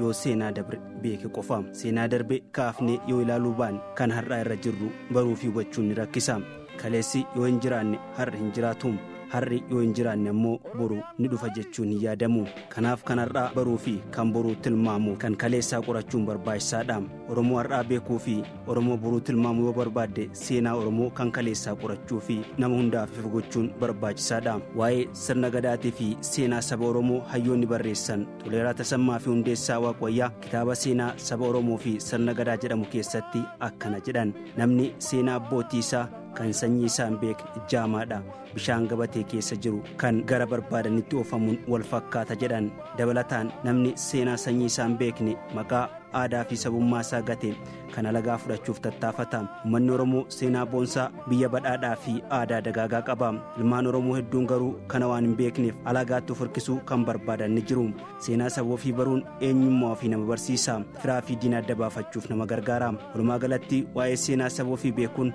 yoo seenaa dabre beeke qofa seenaa darbe kaafnee yoo ilaaluu baan kan har'aa irra jirru baruu fi hubachuun ni rakkisa kaleessi yoo hin jiraanne har'i hin jiraatu har'i yoo hin jiraanne ammoo boru ni dhufa jechuun hin yaadamu kanaaf kan har'aa baruu fi kan boruu tilmaamu kan kaleessaa qorachuun barbaachisaadha oromoo har'aa beekuu fi oromoo boruu tilmaamu yoo barbaadde seenaa oromoo kan kaleessaa qorachuu fi nama hundaaf ifa gochuun barbaachisaadha waa'ee sirna gadaatii fi seenaa saba oromoo hayyoonni barreessan Toleeraa Tasammaa fi Hundeessaa Waaqwayyaa kitaaba seenaa saba Oromoo fi sirna gadaa jedhamu keessatti akkana jedhan namni seenaa abbootii isaa kan sanyii isaa hin beekne jaamaadha bishaan gabatee keessa jiru kan gara barbaadanitti oofamuun wal fakkaata jedhan dabalataan namni seenaa sanyii isaa hin beekne maqaa aadaa fi sabummaa isaa gate kan alagaa fudhachuuf tattaafata ummanni oromoo seenaa boonsaa biyya badhaadhaa fi aadaa dagaagaa qaba ilmaan oromoo hedduun garuu kana waan hin beekneef alagaatti of hirkisuu kan barbaadan ni jiru seenaa saba ofii baruun eenyummaa ofii nama barsiisa firaa fi diina adda baafachuuf nama gargaara walumaa galatti waa'ee seenaa saba ofii beekuun